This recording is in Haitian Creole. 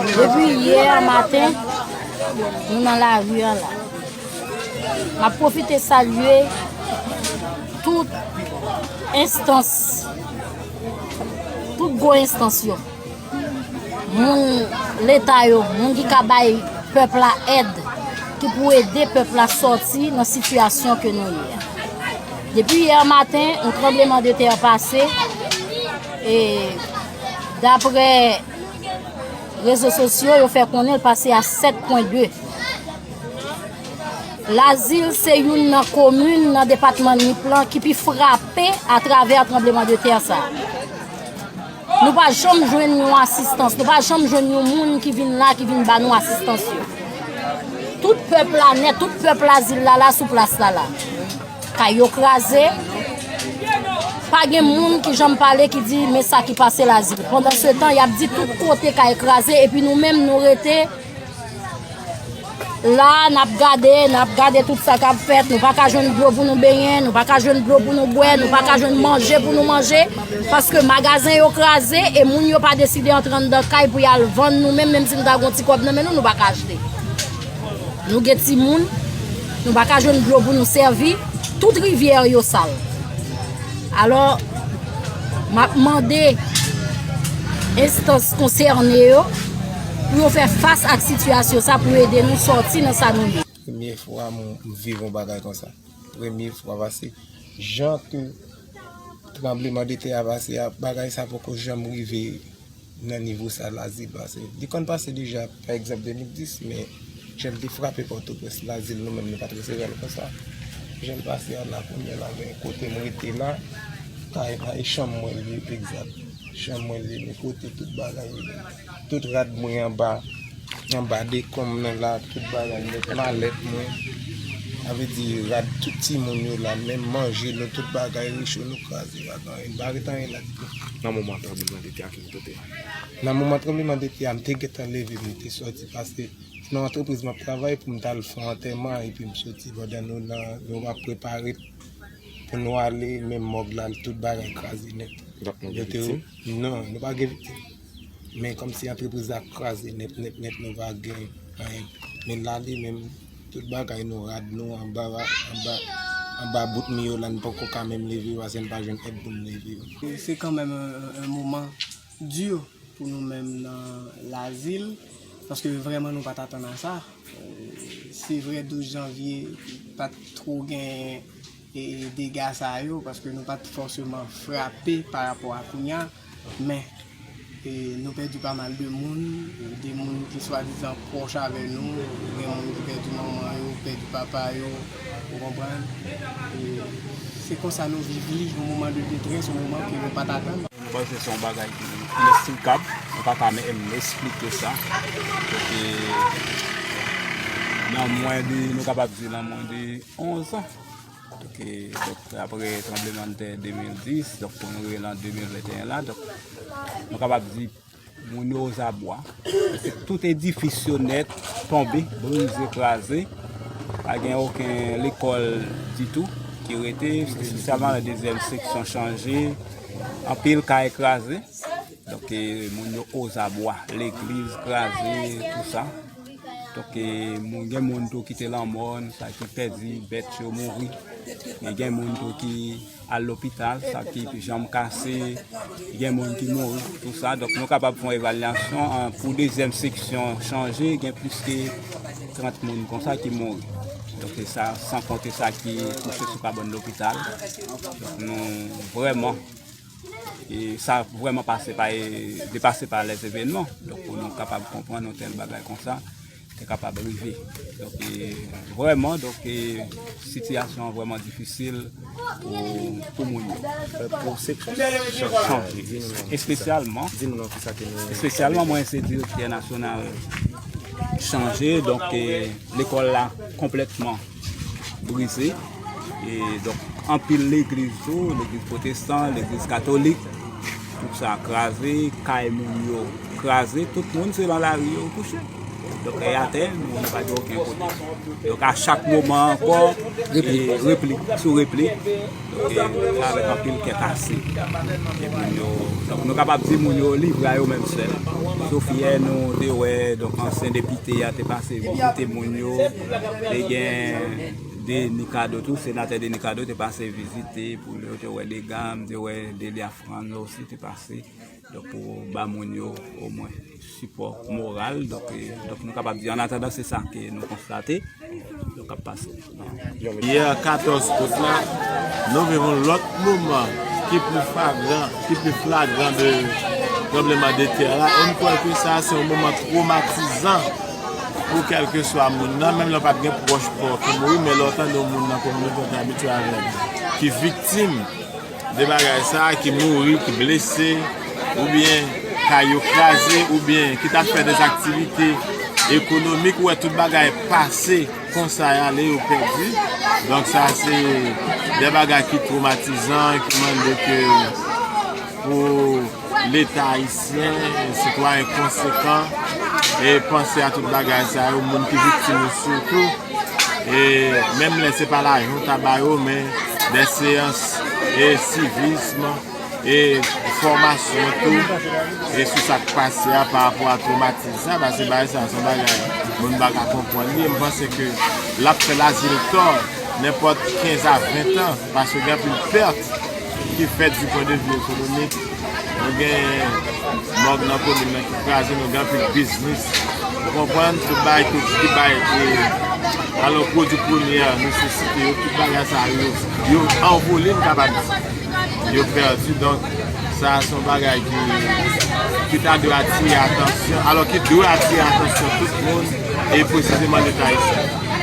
Depi yè a maten, nou nan lari an la. M ap pwofite salye tout enstans, tout gwo enstans yo. Moun leta yo, moun ki ka bay pèp la èd, ki pou ede pèp la sòti nan sitiyasyon ke nou ye a. Depi yè maten, yon tranbleman de tè pase, e dapre rezo sosyo, yo fè konnen l pase a 7 pwen 2. Lazil se youn nan komin nan depatman Nip lan ki pi frape a travè tranbleman de tè sa. Nou pa janm jwenn yon asistans, nou pa janm jwenn yon moun ki vin la, ki vin ba nou asistans yo. Tout pèp la nè, tout pèp la zil la la sou plas la la. Kay yo kraze, pa gen moun ki janm pale ki di men sa ki pase la zil. Pandan se tan, y ap di tout kote kay kraze, epi nou menm nou rete. La a, n ap gade, n ap gade tout sa k ap fèt, nou pa ka jwenn dlo pou nou benyen, nou pa ka jwenn dlo pou nou bwè, nou pa ka jwenn manje pou nou manje, paske magazen yo kraze, e moun yo pa deside antre anndan kay pou y al vann, nou menm, menm si nou ta gen yon ti kòb nan men nou, nou pa ka achte. Nou gen timoun, nou pa ka jwenn dlo pou nou sèvi, tout rivyè yo sal. Alò, m ap mande enstans konsène yo pou yo fè fas ak sitiyasyon sa pou ede nou sòti nan sa nou ye. Premye fwa m viv yon bagay konsa. Premye fwa pase jan ke tranbleman de tè a pase a, bagay sa poko janm rive. nan nivo sa Lazil pase. Li konn pase deja, pa egzanp 2010, men jan l te frape Pòtoprens, Lazil nou menm nou pa t resevwa l konsa. Jan l pase a la, kounye a la gen kote m rete la, kay la e chanm mwen li ye egzat. Chanm mwen li ni kote tout bagay yo ye. Tout rad mwen anba, anba dekonm nan la, tout bagay mwen, malèt mwen. Sa vle di rad tout timoun yo la, menm manje nou, tout bagay rechou nou kraze. Li pa ret anyen la ditou. Nan moman tranbleman de tè a ki pou tete? Nan moman tranbleman de tè a m te gentan leve m te soti paske se nan antrepriz map travay pou m ta al fè yon antèman epi m soti pandan nou nan nou ap prepare pou nou ale menm mòg la tout bagay kraze nèt. Donk nou gen viktim? Non, nou pa gen viktim. Men kòmsi antrepriz la kraze nèt nèt nèt nou pa gen anyen. Men la li menm Tout bagay nou rad nou anba anba anba bout mi yo la n poko ka menm leve yo ase n pa jwenn èd pou n leve yo. Se kanmenm yon moman di pou nou menm nan Lazil paske vrèman nou pa t atann a sa. Se vre 12 janvye pa t twò gen. dega sa yo, paske nou pa t fòseman frape pa rapò a kounya, men nou pèdi pa mal de moun, de moun ki swadizan pwòch avè nou, gen moun ki pèdi manman yo, pèdi papa yo, ou konprann, se konsa nou viv li, yon moman de detrès, yon moman ke nou pa t atann. Mwen panse se yon bagay ki inesplikab, mwen pa ka menm esplike sa, paske nan mwen de, nou kapab di nan mwen de. 11 an ok apre tranblemann tè 2010 donk pou nou rive lan 2021 la donk nou kapab di moun yo ozabwa tout edifis yo nèt tonbe brize kraze pa gen oken lekòl ditou ki rete espesyalman la dezyèm seksyon chanje anpil kay kraze donk moun yo ozabwa legliz kraze tout sa Donk moun gen moun tou ki te lanmò, sa ki pèdi bèt yo mouri, men gen moun tou ki al lopital, sa ki janm kase, gen moun ki mouri pou tout sa. Donk nou kapab fè yon evalyasyon pou dezyèm seksyon chanje gen plis ke 30 moun konsa ki mouri. Donk se sa, san konte sa ki kouche sou kabann lopital. Donk nou vrèman. E sa vrèman pase pa e depase pa lè zevènman. Donk pou nou kapab konprann yon tèl bagay konsa te kapab rive. Donk e vrèman, donk e sitiyasyon an vrèman difisil pou moun yo. Pou se kèk chanje. Espesyalman, espesyalman mwen se direktè nasyonal chanje, donk e lekòl la konplètman. brize e donk anpil legliz tou legliz potestan legliz katolik tout sa kraze kay moun yo kraze tout moun se lan lari yo kouche donk e atè moun pa gen oken kote donk a chak moman anko replik sou replik donk e sa avek anpil kè kase e moun yo donk nou kapab di moun yo livre a yo menm sèl sof yè nou te wè donk ansyen depite a te pase vizite moun yo Te gen Denis Cadeau tou, senatè Denis Cadeau te pase vizite pou yo te wè dega, m te wè Delia Franz osi te pase pou ba moun yo omwen sipò moral. Donk nou kapab di an atandan se sa ke nou konstate k ap pase. Yè 14 out la, nou viv yon lòt moman ki pi flagran, ki pi flagran de tranbleman de tè a e m kwè ke sa se yon moman twomatizan. Pou kèlkeswa moun nan, menm lè w pa t gen pwòch pa w ki mouri, men lè w tande yon moun nan kominote w te abitye avè l ki viktim de bagay sa a, ki mouri, ki blese, oubyen kay yo kraze, oubyen ki t ap fè dèz aktivite ekonomik, ou wè tout bagay pase konsa e ale yo pèdi. Donk sa se de bagay ki twomatizan, ki mande ke pou. Leta ayisyen, sitwayen konsekan e panse a tout bagay sa yo, moun ki viktim yo sitou e menm lè se pa lajan w ta ba yo men dè seyans e sivism e fòmasyon tou e sou sa k pase a pa rapò a twomatis sa pase bagay sa son bagay moun pa ka konprann li e m panse ke l ap fè Lazil tò nenpòt 15 a 20 an paske gen anpil pèt. ki fèt sou pwen de vi ekonomik, nou gen mòg nan komin nan ki kraze, nou gen anpil biznis, ou konprann, tout bagay ki bay valò pwodwi premyè, nesesite yo, tout bagay sa yo, yo anvole m kapab di, yo pèdi, donk sa a son bagay ki ta dwe atire atansyon, alò ki dwe atire atansyon tout moun, e pwesizeman leta ayisyen.